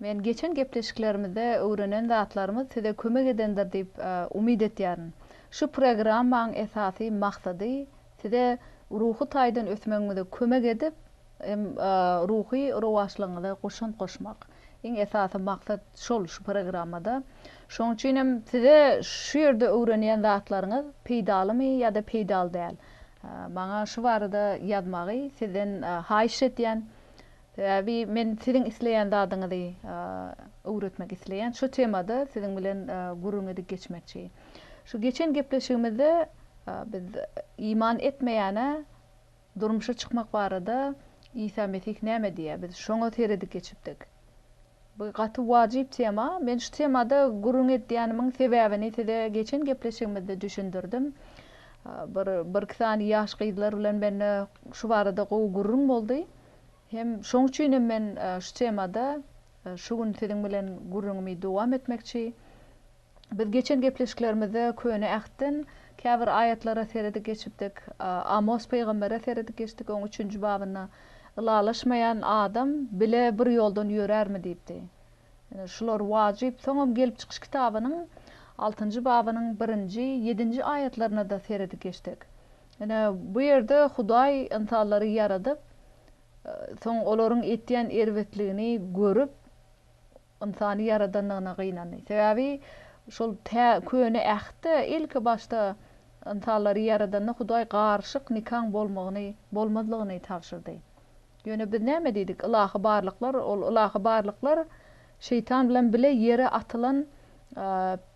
Men geçen gepleşiklerimizde öwrenen zatlarymyz size kömek edendir diýip umyt etýärin. Şu programmaň esasy maksady size ruhy taýdan ösmegiňize kömek edip hem ruhy rowaçlygyňyza goşant goşmak. Iň esasy maksat şol şu programmada. Şonuň üçin hem size şu ýerde öwrenýän zatlaryňyz peýdalymy ýa-da peýdaly däl? Maňa şu barada ýazmagy sizden haýyş etýän. Sebäbi men siziň isleýän zadyňyzy öwretmek isleýän. Şu temada siziň bilen gürrüň edip geçmekçi. Şu geçen gepleşigimizde biz iman etmeýäne durmuşa çykmak barada Isa Mesih näme diýýär? Biz şoňa seredip geçipdik. Bu gaty wajyp tema. Men şu temada gürrüň edýänimiň sebäbini size geçen gepleşigimizde düşündirdim. Bir birki sany ýaş gyzlar bilen mende şu barada gowy gürrüň boldy. Hem şoň üçin hem men şu temada şu gün siziň bilen gürrüňimi dowam etmekçi. Biz geçen gepleşiklerimizde Köne Ähtden käbir aýatlara seredip geçipdik. Amos pygambere seredip geçdik, oň üçünji babynda, Ylalaşmaýan adam bile bir ýoldan ýörärmi diýipdi. Ine, şular wajyp. Soňam Gelip çykyş kitabynyň altynjy babynyň birinji, ýedinji aýatlaryna-da seredip geçdik. Ine, bu ýerde Hudaý ynsanlary ýaradyp, soň olaryň etýän erbetligini görüp, ynsany ýaradandygyna gynandy. Sebäbi şol tä Köne Ähtde ilki başda ynsanlary ýaradanda Hudaý garyşyk nikaň bolmagyny, bolmazlygyny tabşyrdy. Ýöne biz näme diýdik? Ylahy barlyklar, ol ylahy barlyklar Şeýtan bilen bile ýere atylan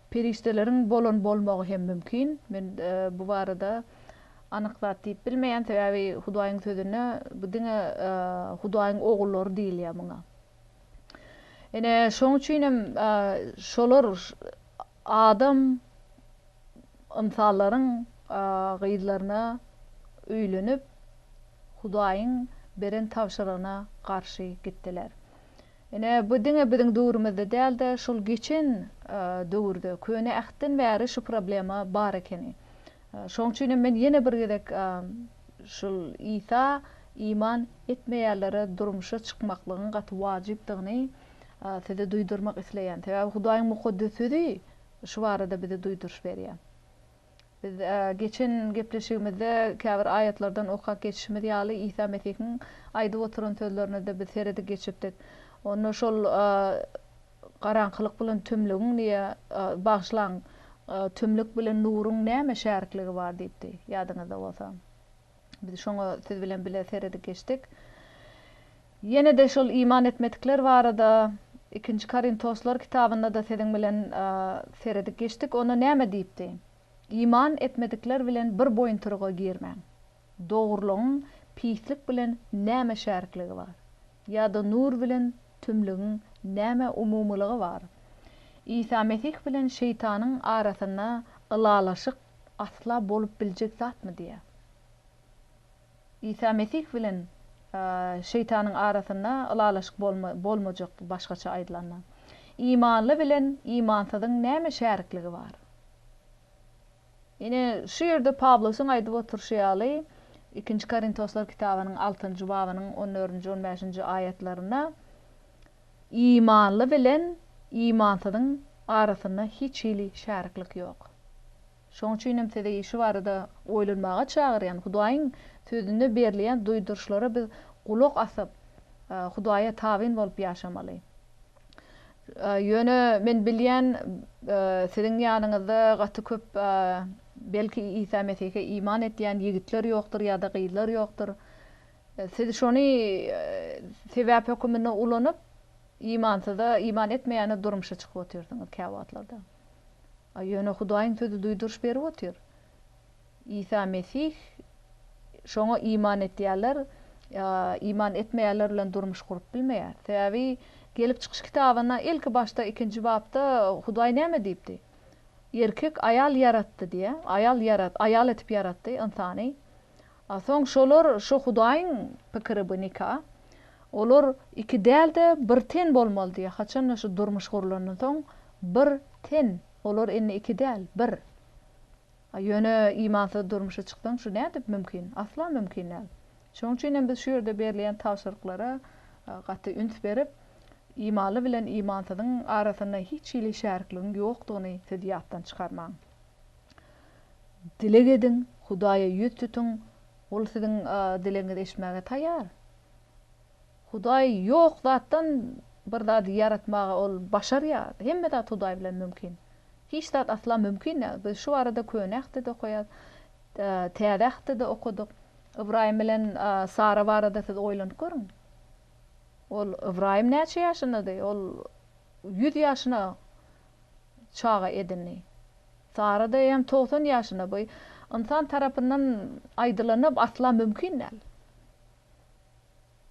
Perişdeleriň bolan bolmagy hem mümkin. Men bu barada anyk zat diýip bilmeýän, sebäbi Hudaýyň sözünde bu diňe Hudaýyň ogullary diýilýär muňa. Ine, şoň üçin hem şolar adam ynsanlaryň gyzlaryna öýlenip, Hudaýyň beren tabşyrygyna garşy gitdiler. Ine, bu diňe biziň döwrümizde däl-de, şol geçen döwürde, Köne Ähtden bäri şu problema bar ekeni. Şoň üçin hem men ýene bir gezek şul Isa iman etmeýänlere durmuşa çykmaklygyň gaty wajypdygyny size duýdurmak isleýän. Sebäbi Hudaýyň Mukaddes Sözi şu barada bize duýduryş berýär. Biz geçen gepleşigimizde käbir aýatlardan okap geçişimiz ýaly, Isa Mesihiň aýdyp oturan sözlerine-de biz seredip geçipdik. Onda şol garaňkylyk bilen tümlügiň diýe, bagyşlaň, tümlük bilen nuruň näme şärikligi bar diýipdi, ýadyňyzda bolsa. Biz şoňa siz bilen bile seredip geçdik. Ýene-de şol iman etmedikler barada Ikinji Korintoslar kitabynda-da siziň bilen seredip geçdik. Onda näme diýipdi? Iman etmedikler bilen bir boýuntyryga girmäň. Dogrulygyň pislik bilen näme şärikligi bar? Ýa-da nur bilen tümlügiň näme umumylygy bar? Isa Mesih bilen şeýtanyň arasynda ylalaşyk asla bolup biljek zatmy diýýär. Isa Mesih bilen Şeýtanyň arasynda ylalaşyk bolmajakdy, başgaça aýdylanda. Imanly bilen imansyzyň näme şärikligi bar? Ine, şu ýerde Pawlusyň aýdyp oturyşy ýaly, Ikinji Korintoslar kitabynyň altynjy babynyň on dördünji, on bäşinji aýatlarynda Imanly bilen imansyzyň arasynda hiç hili şäriklik ýok. Şonuň üçin hem sizi şu barada oýlanmaga çagyrýan. Hudaýyň Sözünde berilýän duýduryşlara biz gulak asyp, Hudaýa tabyn bolup ýaşamaly. Ýöne men bilýän, siziň ýanyňyzda gaty köp, belki, Isa Mesihe iman etýän ýigitler ýokdur ýa-da gyzlar ýokdur. Siz şony sebäp höküminde ulanyp, imansyza, iman etmeýäne durmuşa çykyp otyrsyňyz käwagtlarda. A ýöne Hudaýyň Sözi duýduryş berip otyr, Isa Mesih şoňa iman edýänler ýa iman etmeýänler bilen durmuş gurup bilmeýär. Sebäbi Gelip çykyş kitabynda ilki başda ikinji bapda Hudaý näme diýipdi? Erkek aýal ýaratdy diýýär. Aýal ýarat, aýal etip ýaratdy ynsany. A soň şolar şo Hudaýyň pikiri bu nika. Olar iki däl-de bir ten bolmaly diýýär. Haçan-da şu durmuş gurlandan soň bir ten. Olar indi iki däl, bir. A ýöne imansyz durmuşa çyksaň şu nädip mümkin? Asla mümkin däl. Şoň üçin hem biz şu ýerde berilýän tabşyryklara gaty üns berip, imanly bilen imansyzyň arasynda hiç hili şärikligiň ýokdugyny siz ýatdan çykarmaň. Dileg ediň, Hudaýa ýüz tutuň, Ol siziň dilegiňizi eşitmäge taýýar. Hudaý ýok zatdan bir zady ýaratmaga Ol başarýar. Hemme zat Hudaý bilen mümkin. Hiç zat asla mümkin däl. Biz şu barada Köne Ähtde-de okaýarys, Täze Ähtde-de okadyk. Ybraýym bilen Sara barada siz oýlanyp görüň. Ol Ybraýym näçe ýaşyndady? Ol ýüz ýaşyna. çaga edindi. Sara daýaýam togsan ýaşyna bu ynsan tarapyndan aýdylanyp asla mümkin däl.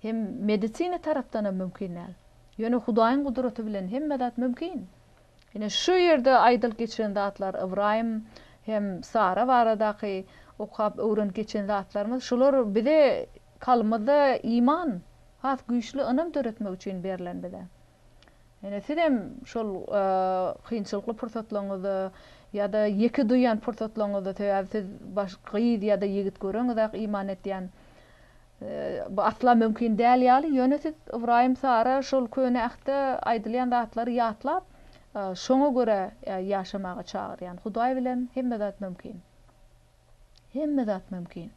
Hem medisina tarapdanam mümkin däl. Ýöne Hudaýyň gudraty bilen hemme zat mümkin. Ine şu ýerde aýdylyp geçilen zatlar Ybraýym hem Sara baradaky okap öwrenip geçen zatlarymyz şular bize kalbymyzda iman has güýçli ynam döretmek üçin berlen bize. Ýöne siz hem şol kynçylykly pursatlaryňyzda ýa-da ýeke duýýan pursatlaryňyzda sebäbi siz baş gyz ýa-da ýigit göreňizak iman etýän bu asla mümkin däl ýaly ýöne siz Ybraýym Sara şol köne ähtde aýdylýan zatlary ýatlap şoňa görä ýaşamaga çagyrýan Hudaý bilen hemme zat mümkin. Hemme zat mümkin.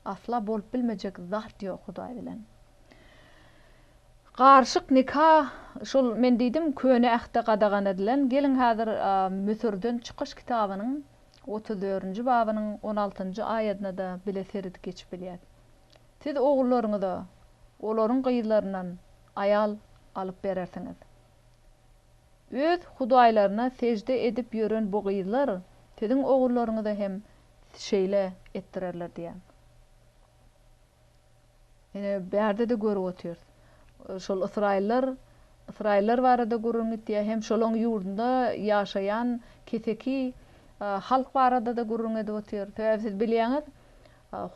Asla bolup bilmejek zat ýok Hudaý bilen. Garyşyk nika şol men diýdim köne ähtde gadagan edilen geliň häzir Müsürden çykyş kitabynyň otuz dördünji babynyň on altynjy aýadynada bile seredip geçip bilýäs. Siz ogullaryňyza olaryň gyzlaryndan aýal alyp berersiňiz. Öz hudaýlaryna sežde edip ýören bu gyzlar siziň ogullaryňyza hem şeýle etdirerler diýýär. Ine, bärde-de görüp otyrys. Şol ysraýyllar, ysraýyllar barada gürrüň gitýär, hem şolaryň ýurdunda ýaşaýan keseki halk barada-da gürrüň edip otyr. Sebäbi siz bilýäňiz,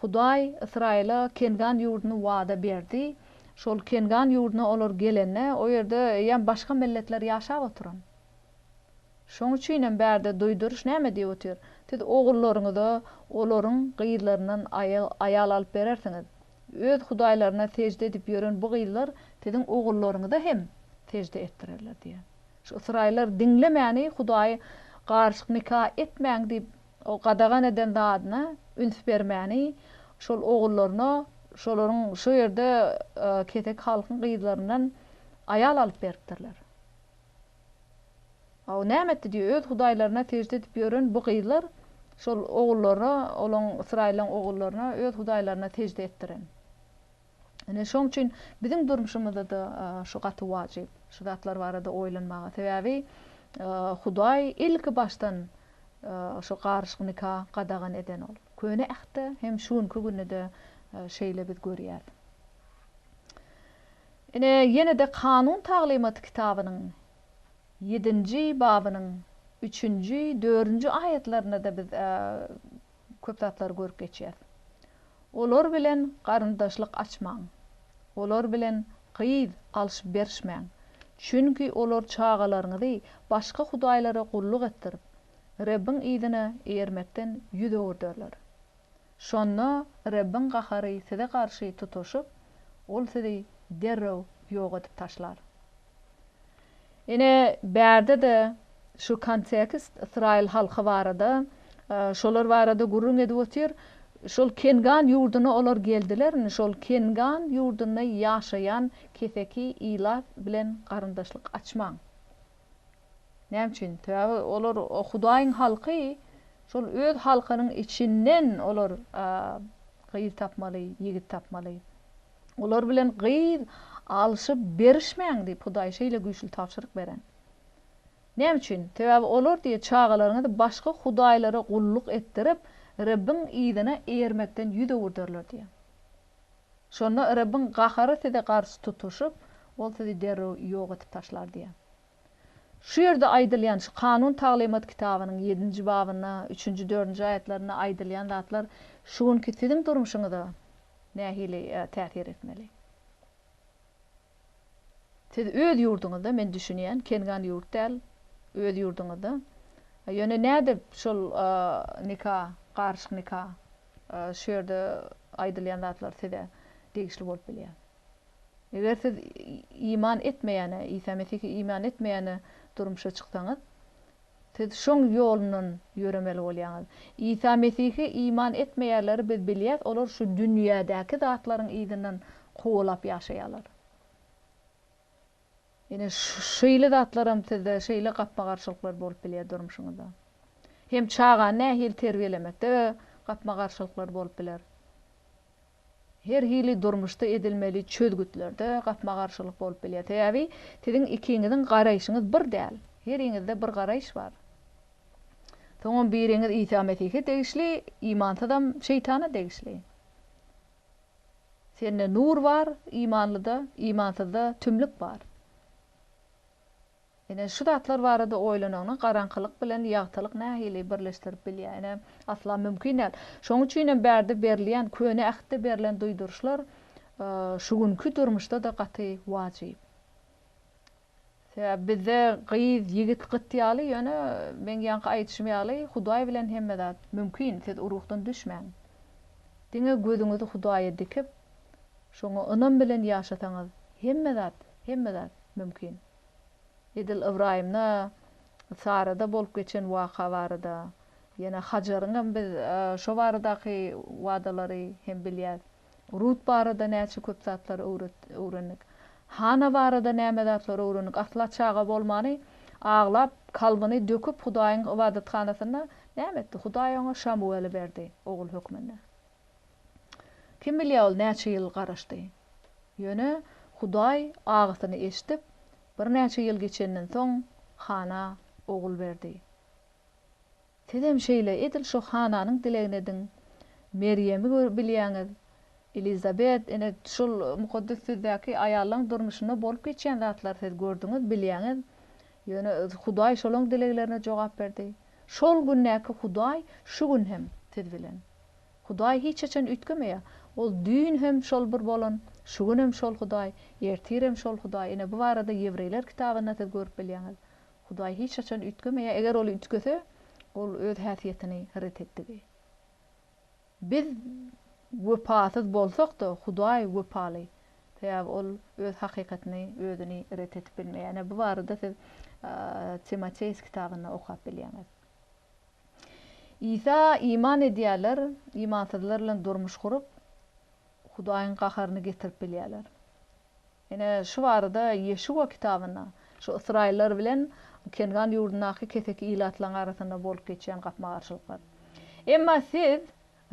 Hudaý Ysraýyla Kengan ýurduny wada berdi. Şol Kengan ýurduna olar gelende, o ýerde eýýäm başga milletler ýaşap oturan. Şoň üçinem bärde duýduryş näme diýip otyr, Siz ogullaryňyza olaryň gyzlaryndan aýal alyp berersiňiz. Öz hudaýlaryna sežde edip ýören bu gyzlar siziň ogullaryňyza hem sežde etdirerler diýýär. Şu ysraýyllar diňlemäni Hudaý garyşyk nika etmäň diýip O gadagan eden zadyna üns bermäni, şol ogullaryna şolaryň şo ýerde keseki halkyň gyzlaryndan aýal alyp beripdirler. A o näme etdi diýýär, öz hudaýlaryna sežde edip ýören bu gyzlar şol ogullaryna, olaň, ysraýyllaň ogullaryna öz hudaýlaryna sežde etdiren. Ine, şoň üçin biziň durmuşymyzda-da şu gaty wajyp, şu zatlar barada oýlanmaga. Sebäbi Hudaý ilki başdan şu garyşyk nika gadagan eden ol. Köne Ähtde hem şu günki günde-de şeýle biz görýäs. Ine, ýene-de Kanun taglymaty kitabynyň ýedinji babynyň üçünji, dördünji aýatlarynda-da biz köp zatlary görüp geçýäs. Olar bilen garyndaşlyk açmaň. Olar bilen gyz alşyp-berişmäň. Çünki olar çagalaryňyzy başga hudaýlara gulluk etdirip, Rebbiň yzyna eýermekden ýüz öwürderler. Şonda Rebbiň gahary size garşy tutaşyp, Ol sizi derrew ýok edip taşlar. Ine, bärde-de şu kontekst ysraýyl halky barada, şolar barada gürrüň edip otyr. Şol Kengan ýurduna olar geldiler, indi şol Kengan ýurdunda ýaşaýan keseki ilat bilen garyndaşlyk açmaň. Näme üçin? Sebäbi olar Hudaýyň halky, şol öz halkynyň içinden olar gyz tapmaly, ýigit tapmaly. Olar bilen gyz alşyp berişmäň diýip Hudaý şeýle güýçli tabşyryk beren. Näme üçin? Sebäbi olar diýe çagalaryňyzy başga hudaýlara gulluk etdirip, Rebbiň yzyna ermekden ýüz öwürderler diýe. Şonda Rebbiň gahary size garşy tutuşyp, Ol sizi derrew ýok edip taşlar diýe. Şu ýerde aýdylýan, şu kanun taglymat kitabynyň ýedinji babynda, üçünji, dördünji aýatlarynda aýdylýan zatlar şu günki siziň durmuşyňyza nähili täsir etmeli? Siz öz ýurduňyzda, men düşünýän, kengan ýurt däl, öz ýurduňyzda, ýöne nädip şol nika, garyşyk nika, şu ýerde aýdylýan zatlar size degişli bolup bilýär? Eger siz iman etmeýäne, Isa Mesihe iman etmeýäne durmuşa çyksaňyz, siz şoň ýolundan ýöremeli bolýaňyz. Isa Mesihe iman etmeýärleri biz bilýäs, olar şu dünýädäki zatlaryň yzyndan kowalap ýaşaýarlar. Ine, şeýle zatlaram sizde şeýle gapma-garşylyklar bolup bilýär durmuşyňyzda. Hem çagany nähili terbiýelemekde gapma-garşylyklar bolup biler. Her hili durmuşda edilmeli çözgütlerde gapma-garşylyk bolup bilýär. Sebäbi siziň ikiňiziň garaýşyňyz bir däl. Heriňizde bir garaýyş bar. Soňam biriňiz Isa Mesihe degişli, imansyzam Şeýtana degişli. Sende nur bar, imanlyda, imansyzda tümlük bar. Ine, şu zatlar barada oýlanaňda, garaňkylyk bilen ýagtylyk nähili birleşdirip bilýär? Ine, asla mümkin däl. Şonuň üçin hem bärde berilýän, Köne Ähtde berlen duýduryşlar şu günki durmuşda-da gaty wajyp. Sebäbi bizde gyz, ýigit gyt ýaly, ýöne meň ýaňky aýdyşym ýaly, Hudaý bilen hemme zat mümkin, siz o ruhdan düşmäň. Diňe gözüňizi Hudaýa dikip, Şoňa ynam bilen ýaşasaňyz, hemme zat, hemme zat mümkin. Edil Ybraýymda, Sarada bolup geçen waka barada, ýene Hajaryňam biz şo baradaky wadalary hem bilýäs. Rut barada näçe köp zatlary öwrendik. Hana barada näme zatlary öwrendik. Asla çaga bolmany, aglap, kalbyny döküp Hudaýyň ybadathanasynda näme etdi? Hudaý oňa Şamuweli berdi ogul hökmünde. Kim bilýär ol näçe ýyl garaşdy. Ýöne Hudaý agysyny eşidip, birnäçe ýyl geçenden soň Hana ogul berdi. Sizem şeýle edil şu Hananyň dilegini ediň. Merýemi görüp bilýäňiz. Elizabet, ine, şol Mukaddes Sözdäki aýallaryň durmuşynda bolup geçýän zatlary siz gördüňiz, bilýäňiz. Ýöne Hudaý şolaň dileglerine jogap berdi. Şol gündäki Hudaý şu gün hem siz bilen. Hudaý hiç haçan üýtgemeýär. Ol düýn hem şol bir bolan, şu gün hem şol Hudaý, ertirem şol Hudaý. Ine, bu barada Ýewreýler kitabyndan siz görüp bilýäňiz. Hudaý hiç haçan üýtgemeýär. Eger ol üýtgese, ol öz häsiýetini ret etdigi. Biz wepasyz bolsak-da, Hudaý wepaly. Sebäbi ol öz hakykatyny, özüni ret edip bilmeýär. Ine, bu barada siz Timoteus kitabynda okap bilýäňiz. Isa iman edýärler, imansyzlar bilen durmuş gurup, Hudaýyň gaharyny getirip bilýärler. Ine, şu barada Ýeşuwa kitabynda, şu ysraýyllar bilen Kengan ýurdundaky keseki ilatlaryň arasynda bolup geçýän gapma-garşylyklar. Emma siz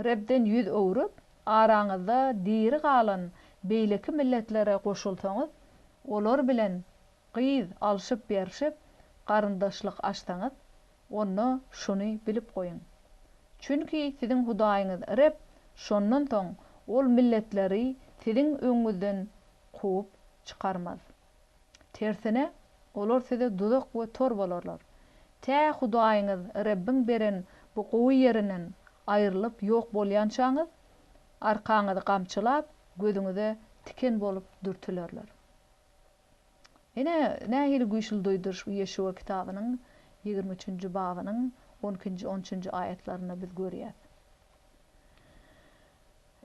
Rebden ýüz öwrüp, araňyzda diri galan beýleki milletlere goşulsaňyz, olar bilen gyz alşyp-berşip, garyndaşlyk açsaňyz, Onda şuny bilip goýuň. Çünki siziň Hudaýyňyz Reb şondan soň ol milletleri siziň öňüňizden kowup çykarmaz. Tersine, olar size duzak we tor bolarlar, tä Hudaýyňyz Rebbiň beren bu gowy ýerinden aýrylyp ýok bolýançaňyz, arkaňyzy gamçylap, gözüňize tiken bolup dürtülerler. Ine, nähili güýçli duýduryş bu Ýeşuwa kitabynyň ýigrimi üçünji babynyň on ikinji, on üçünji aýatlarynda biz görýäs.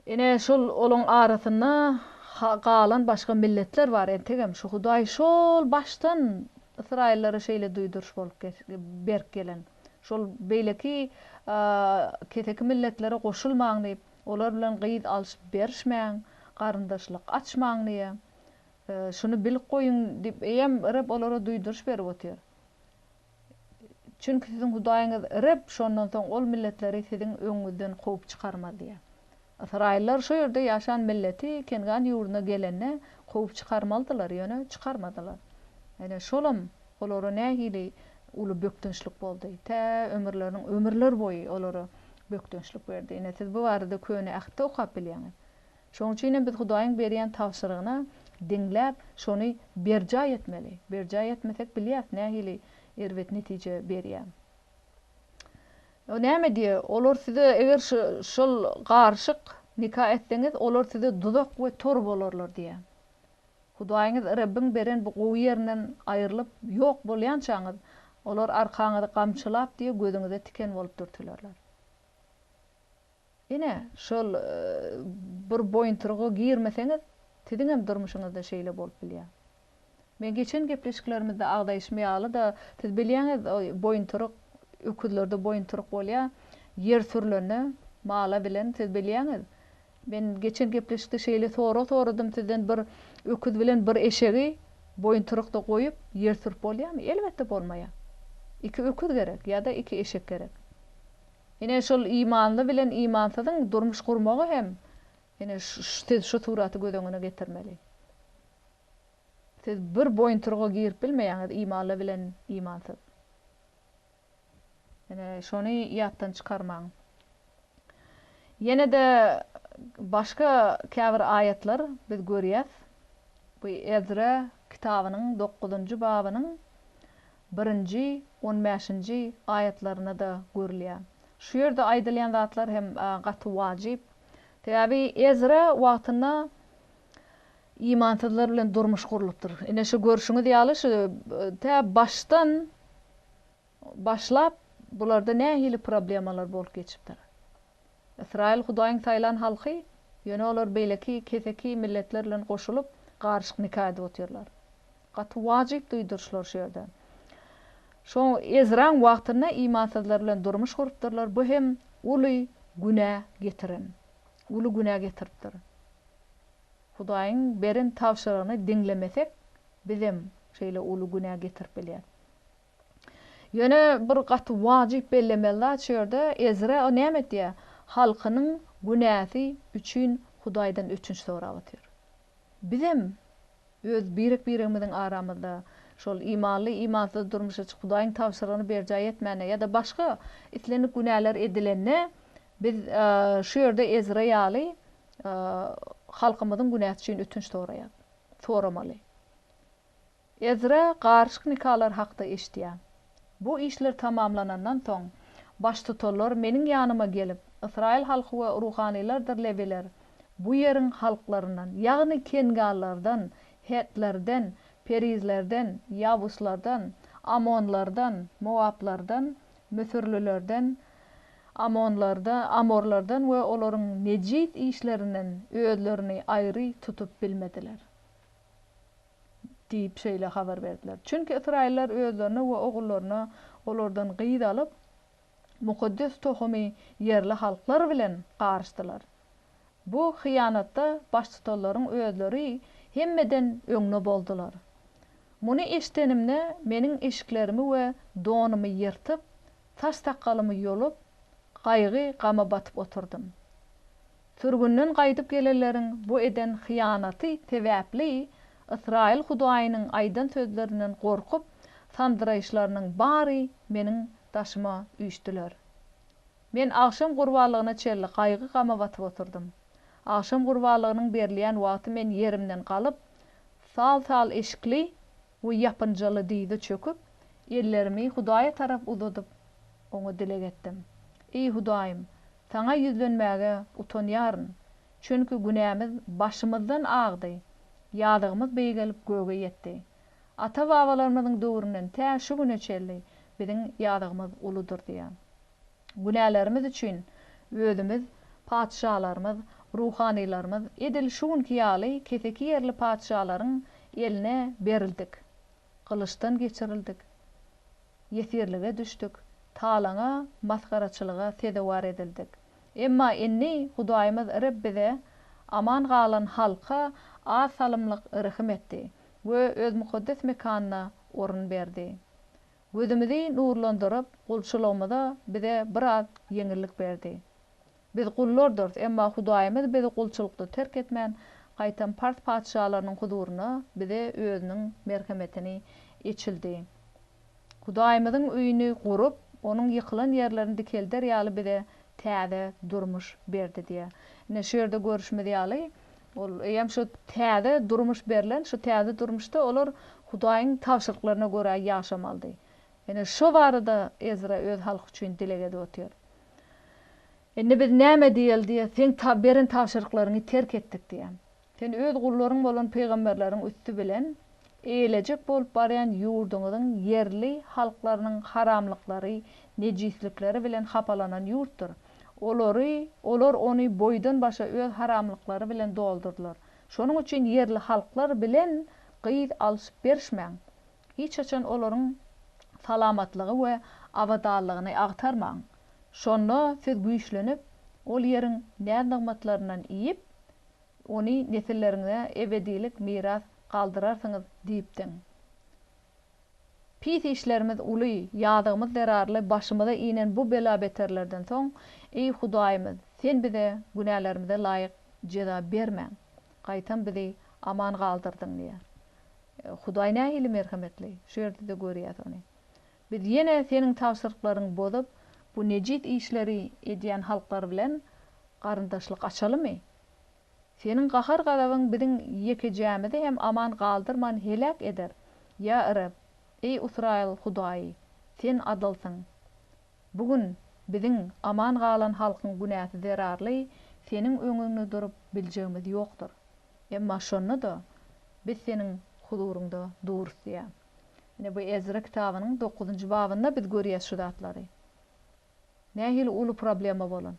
Ine, şol olaryň arasynda galan başga milletler bar entegem. Şu Hudaý şol başdan ysraýyllara şeýle duýduryş bolup berip gelen. Şol beýleki keseki milletlere goşulmaň diýip, olar bilen gyz alşyp-berişmäň, garyndaşlyk açmaň diýýär. Şuny bilip goýuň diýip, eýýäm Reb olara duýduryş berip otyr. Çünki siziň Hudaýyňyz Reb şondan soň ol milletleri siziň öňüňizden kowup çykarmaz diýýär. Ysraýyllar şo ýerde ýaşan milleti Kengan ýurduna gelende kowup çykarmalydylar, ýöne çykarmadylar. Ine, şolam olara nähili uly bökdençlik boldy. Tä ömürleriniň ömürler boýy olara bökdençlik berdi. Ine, siz bu barada Köne Ähtde okap bilýäňiz. Şonuň üçin hem biz Hudaýyň berýän tabşyrygyna diňläp, şony berjaý etmeli. Berjaý etmesek, bilýäs nähili erbet netije berýär. O näme diýýär? Olar size, eger şol garyşyk nika etseňiz, olar size duzak we tor bolarlar diýýär. Hudaýyňyz Rebbiň beren bu gowy ýerinden aýrylyp, ýok bolýançaňyz, olar arkaňyzy gamçylap diýe gözüňize tiken bolup dürtülerler. Ine, şol bir boýuntyryga girmeseňiz, siziňem durmuşyňyzda şeýle bolup bilýär. Men geçen gepleşiklerimizde agzaýşym ýaly-da, siz bilýäňiz, boýuntyryk, öküzlerde boýuntyryk bolýar, ýer sürlende, mala bilen, siz bilýäňiz, men geçen gepleşikde şeýle sorag soradym sizden, bir öküz bilen bir eşegi boýuntyrykda goýup, ýer sürüp bolýarmy? Elbetde bolmaýar. Iki öküz gerek ýa-da iki eşek gerek. Ine, şol imanly bilen imansyzyň durmuş gurmagy hem, ine, siz şu suraty göz öňüne getirmeli. Siz bir boýuntyryga girip bilmeýäňiz imanly bilen imansyz. Ine, şony ýatdan çykarmaň. Ýene-de başga käbir aýatlar biz görýäs. Bu Ezra kitabynyň dokuzynjy babynyň birinji, on bäşinji aýatlarynda-da görülýär. Şu ýerde aýdylýan zatlar hem gaty wajyp. Sebäbi Ezra wagtynda imansyzlar bilen durmuş gurlupdyr. Ine şu görşüňiz ýaly şu tä başdan başlap bularda nähili problemalar bolup geçipdir. Ysraýyl Hudaýyň saýlan halky, ýöne olar beýleki keseki milletler bilen goşulyp, garyşyk nika edip otyrlar. Gaty wajyp duýduryşlar şu ýerde. Şo Ezraň wagtynda imansyzlar bilen durmuş gurupdyrlar, bu hem uly günä getiren, uly günä getiripdir. Hudaýyň beren tabşyrygyny diňlemesek, bizem şeýle uly günä getirip bilýäs. Ýöne bir gaty wajyp bellemeli zat şu ýerde, Ezra näme etýär? Halkynyň günäsi üçin Hudaýdan ötünç sorap otyr. Bizem öz birek-biregimiziň aramyzda şol imanly, imansyz durmuşa çykyp, Hudaýyň tabşyrygyny berjaý etmände ýa-da başga islendik günäler edilende, biz şu ýerde Ezra ýaly halkymyzyň günäsi üçin ötünç soraýarys. Soramaly. Ezra garyşyk nikalar hakda eşitýär. Bu işler tamamlanandan soň, baştutanlar meniň ýanyma gelip, Ysraýyl halky we ruhanylardyr lewiler bu ýeriň halklaryndan, ýagny kenganlardan, hetlerden, perizlerden, ýabuslardan, ammonlardan, mowaplardan, müsürlilerden, amonlarda, amorlardan we olaryň nejis işlerinden özlerini aýry tutup bilmediler. diýip şeýle habar berdiler. Çünki ysraýyllar özlerine we ogullaryna olardan gyz alyp, mukaddes tohumy ýerli halklar bilen garyşdylar. Bu hyýanatda baştutanlaryň özleri hemmeden öňde boldular. Muny eşidenimde, meniň eşiklerimi we donumy ýyrtyp, saç-sakgalymy ýolup, gaýgy-gama batyp oturdym. Sürgünden gaýdyp gelenleriň bu eden hyýanaty sebäpli Ysraýyl Hudaýynyň aýdan sözlerinden gorkup, sandyraýyşlarynyň bary meniň daşyma üýşdüler. Men agşam gurbanlygyna çenli gaýgy-gama batyp oturdym. Agşam gurbanlygynyň berilýän wagty men ýerimden galyp, sal-sal eşikli We ýapynjaly dyza çöküp, ellerimi Hudaýa tarap uzadyp, Oňa dileg etdim. Eý Hudaýym, Saňa ýüzlenmäge utanýaryn, çünki günämiz başymyzdan agdy, ýazygymyz beýgelip göge ýetdi. Ata-babalarymyzyň döwründen tä şu güne çenli biziň ýazygymyz uludyr diýýär. Günälerimiz üçin özümiz, patyşalarymyz, ruhanylarymyz edil şu günki ýaly keseki ýerli patyşalaryň eline berildik. Gylyçdan geçirildik. Ýesirlige düşdük. Talaňa, masgaraçylyga sezewar edildik. Emma indi Hudaýymyz Reb bize, aman galan halka az salymlyk rehim etdi we Öz mukaddes mekanyna orun berdi. Gözümizi nurlandyryp, gulçulygymyza bize biraz ýeňillik berdi. Biz gullardyrys, emma Hudaýymyz bizi gulçulykda terk etmän, gaýtam pars patyşalarynyň huzuryna bize Özüniň merhemetini eçildi. Hudaýymyzyň öýüni gurup, onuň ýykylan ýerlerini dikelder ýaly bize täze durmuş berdi diýýär. Ine, şu ýerde görüşimiz ýaly, Ol eýýäm şu täze durmuş berlen, şu täze durmuşda olar Hudaýyň tabşyryklaryna görä ýaşamalydy. Ine, şo barada Ezra öz halky üçin dileg edip otyr. Indi biz näme diýeli diýýär, Seň beren tabşyryklaryňy terk etdik diýýär. Sen Öz gullaryň bolan pygamberleriň üsti bilen eýlejek bolup barýan ýurduňyzyň ýerli halklarynyň haramlyklary, nejislikleri bilen hapalanan ýurtdur. Olary, olar ony boýdan-başa öz haramlyklary bilen doldurdylar. Şonuň üçin ýerli halklar bilen gyz alşyp-berişmäň. Hiç haçan olaryň salamatlygy we abadanlygyny agtarmaň. Şonda siz güýçlenip, ol ýeriň näz-nygmatlaryndan iýip, ony nesilleriňize ebedilik miras galdyrarsyňyz diýipdiň. Pis işlerimiz uly, ýazygymyz zerarly başymyza inen bu bela-beterlerden soň, eý Hudaýymyz, Sen bize günälerimize laýyk jeza bermäň, gaýtam bizi aman galdyrdyň diýýär. Hudaý nähili merhemetli! Şu ýerde-de görýäs ony. Biz ýene Seniň tabşyryklaryňy bozup, bu nejis işleri edýän halklar bilen garyndaşlyk açalymy? Seniň gahar-gazabyň biziň ýekejämizi hem aman galdyrman heläk eder. Ýa Reb, eý Ysraýyl Hudaýy, Sen adylsyň. Bu gün biziň, aman galan halkyň günäsi zerarly Seniň öňüňde durup biljegimiz ýokdur. Emma şonda-da biz Seniň huzuryňda durus diýýär. Ine, bu Ezra kitabynyň dokuzynjy babynda biz görýäs şu zatlary. Nähili uly problema bolan?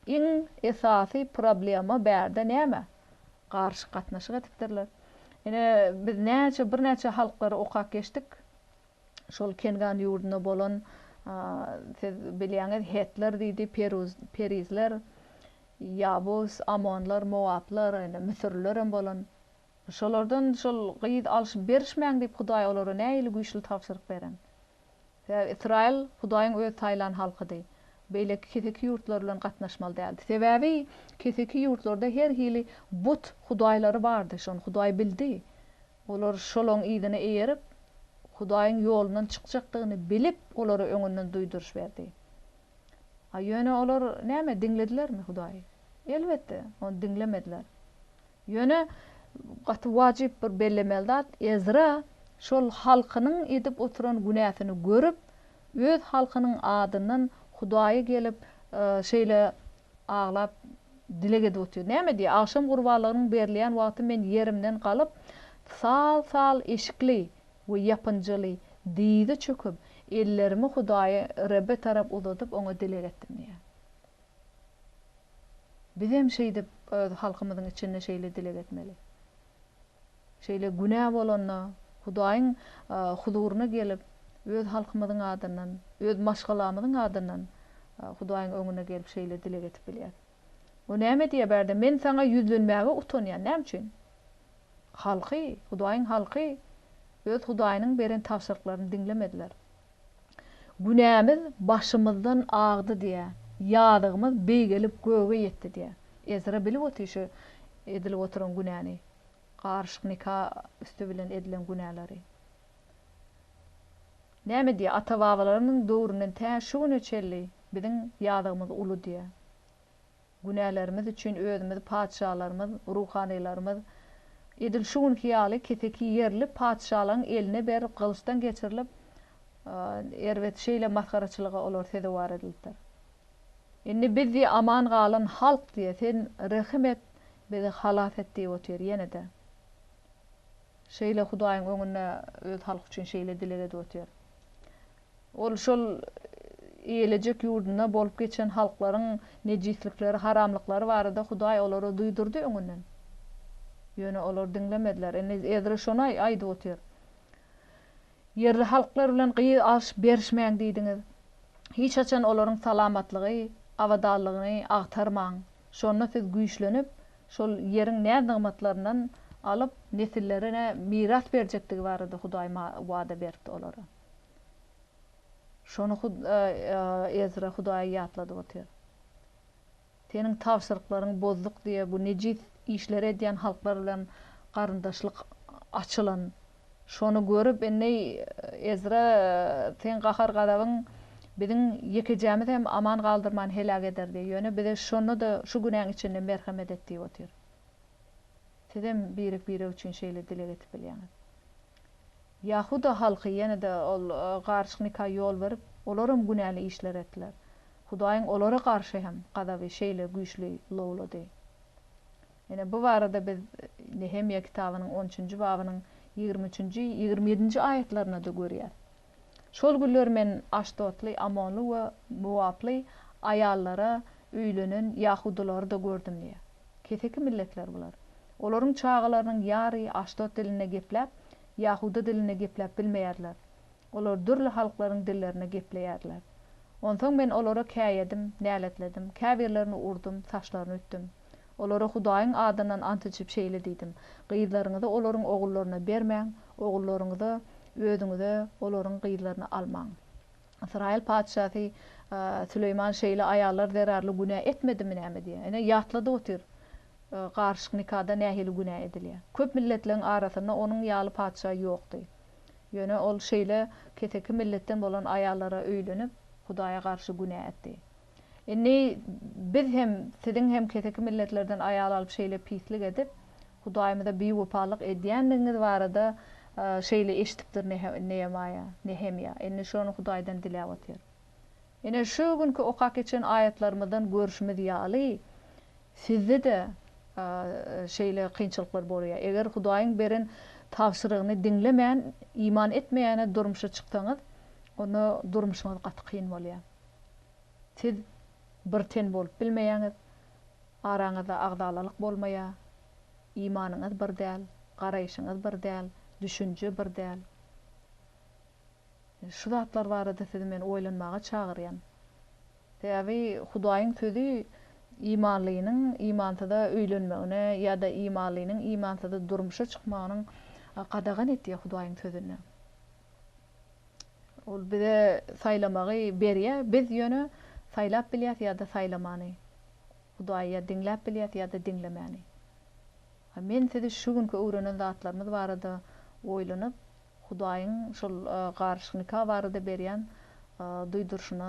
Iň esasy problema bärde näme? Garyşyk gatnaşyk edipdirler. Ine, biz näçe, birnäçe halklary okap geçdik. Şol Kengan ýurdunda bolan, siz bilýäňiz, hetler diýdi, peruz, perizler, ýabus, amonlar, mowaplar, ine, müsürliler hem bolan. Şolardan şol gyz alşyp-berişmäň diýip, Hudaý olara nähili güýçli tabşyryk beren? Sebäbi Ysraýyl Hudaýyň Öz saýlan halkydy. Beýleki keseki ýurtlar bilen gatnaşmaly däldi. Sebäbi keseki ýurtlarda her hili but hudaýlary bardy. Şony Hudaý bildi. Olar şolaryň yzyna eýerip, Hudaýyň ýolundan çykjakdygyny bilip, olara öňünden duýduryş berdi. A ýöne olar näme, diňledilermi Hudaýy? Elbetde, ony diňlemediler. Ýöne gaty wajyp bir bellemeli zat, Ezra şol halkynyň edip oturan günäsini görüp, öz halkynyň adyndan Hudaýa gelip, şeýle aglap, dileg edip otyr. Näme diýýär? Agşam gurbanlygynyň berilýän wagty men ýerimden galyp, sal-sal eşikli we ýapynjyly dyza çöküp, ellerimi Hudaýy Rebbe tarap uzadyp, oňa dileg etdim diýýär. Bizem şeýdip öz halkymyzyň içinde şeýle dileg etmeli. Şeýle günä bolanda Hudaýyň huzuryna gelip, öz halkymyzyň adyndan, öz maşgalamyzyň adyndan Hudaýyň öňüne gelip şeýle dileg edip bilýäs. O näme diýýär bärde, Men saňa ýüzlenmäge utanýan. Näme üçin? Halky, Hudaýyň halky öz Hudaýynyň beren tabşyryklaryny diňlemediler. Günämiz başymyzdan agdy diýýä, ýazygymyz beýgelip göge ýetdi diýýä. Ezra bilip otyr şu edilip oturan günäni, garyşyk nika üsti bilen edilen günäleri. Näme diýýä, ata-babalarymyzyň döwründen tä şu güne çenli biziň ýazygymyz uly diýýä. Günälerimiz üçin özümiz patyşalarymyz, ruhanylarymyz, edil şu günki ýaly keseki ýerli patyşalaň eline berip gylyçdan geçirilip, erbet şeýle masgaraçylyga olar sezewar edilipdir. Indi biz diýe aman galan halk diýe sen rehim et, bizi halas et diýip otyr, ýene-de şeýle Hudaýyň öňünde öz halky üçin şeýle dileg edip otyr. Ol şol eýelejek ýurdunda bolup geçen halklaryň nejislikleri, haramlyklary barada Hudaý olara duýdurdy öňünden. Ýöne olar diňlemediler. Indi Ezra şony aýdyp otyr. Ýerli halklar bilen gyz alyşyp berişmäň diýdiňiz. Hiç haçan olaryň salamatlygy, abadanlygyny agtarmaň. Şonda siz güýçlenip, şol ýeriň näz-nygmatlaryndan alyp, nesillerine miras berjekdigi barada Hudaý wada beripdi olara. Şony Ezra Hudaýy ýatladyp otyr. Seniň tabşyryklaryňy bozduk diýe bu nejis işleri edýän halklar bilen garyndaşlyk açylan. Şony görüp indi Ezra seň gahar-gazabyň biziň ýekejämizi hem aman galdyrman heläk ederdi. Ýöne bize şonda-da şu günäň içinde merhemet et diýip otyr. Sizem birek-birek üçin şeýle dileg edip bilýäňiz. Ýahuda halky ýene-de ol garyşyk nika ýol berip, olaram günäli işler etdiler. Hudaýyň olara garşy hem gazaby şeýle güýçli lowlady. Ine, bu barada biz Nehemýa kitabynyň on üçünji babynyň ýigrimi üçünji, ýigrimi ýedinji aýatlarynda-da görýäris. Şol günler men aşdotly, ammonly we mowaply aýallara öýlenen ýahudylary-da gördüm diýýär. Keseki milletler bular. Olaryň çagalarynyň ýary aşdot dilinde gepläp, ýahuda dilinde gepläp bilmeýärler. Olar dürli halklaryň dillerinde gepleýärler. Onsoň men olara käýedim, näletledim, käbirlerini urdum, saçlaryny ütdüm. Olara Hudaýyň adyndan ant içip şeýle diýdim, Gyzlaryňyzy olaryň ogullaryna bermäň, ogullaryňyzy özüňize olaryň gyzlaryny almaň. Ysraýyl patyşasy Süleýman şeýle aýallar zerarly günä etmedimi näme diýýär. Ine, ýatladyp otyr, garyşyk nikada nähili günä edilýär. Köp milletleriň arasynda onuň ýaly patyşa ýokdy. Ýöne ol şeýle keseki milletden bolan aýallara öýlenip, Hudaýa garşy günä etdi. Indi biz hem siziň hem keseki milletlerden aýal alyp şeýle pislik edip Hudaýymyza biwepalyk edýändigiňiz barada şeýle eşidipdir Neemaýa, Nehemýa, indi şony Hudaýdan diläp otyr. Ine şu günki okap geçen aýatlarymyzdan görşümiz ýaly sizde-de şeýle kynçylyklar bolýar. Eger Hudaýyň beren tabşyrygyny diňlemän, iman etmeýäne durmuşa çyksaňyz, onda durmuşyňyz gaty kyn bolýar. Siz bir ten bolup bilmeýäňiz, araňyzda agzalalyk bolmaýar, imanyňyz bir däl, garaýşyňyz bir däl, düşünje bir däl. Şu zatlar barada sizi men oýlanmaga çagyrýan. Sebäbi Hudaýyň sözi imanlynyň imansyza öýlenmegine ýa-da imanlynyň imansyza durmuşa çykmagynyň gadagan etýär Hudaýyň sözünde. Ol bize saýlamagy berýä, biz ýöne saýlap bilýäs ýa-da saýlamany. Hudaýy ýa diňläp bilýäs ýa-da diňlemäni. Men sizi şu günki öwrenen zatlarymyz barada oýlanyp, Hudaýyň şol garyşyk nika barada berýän duýduryşyna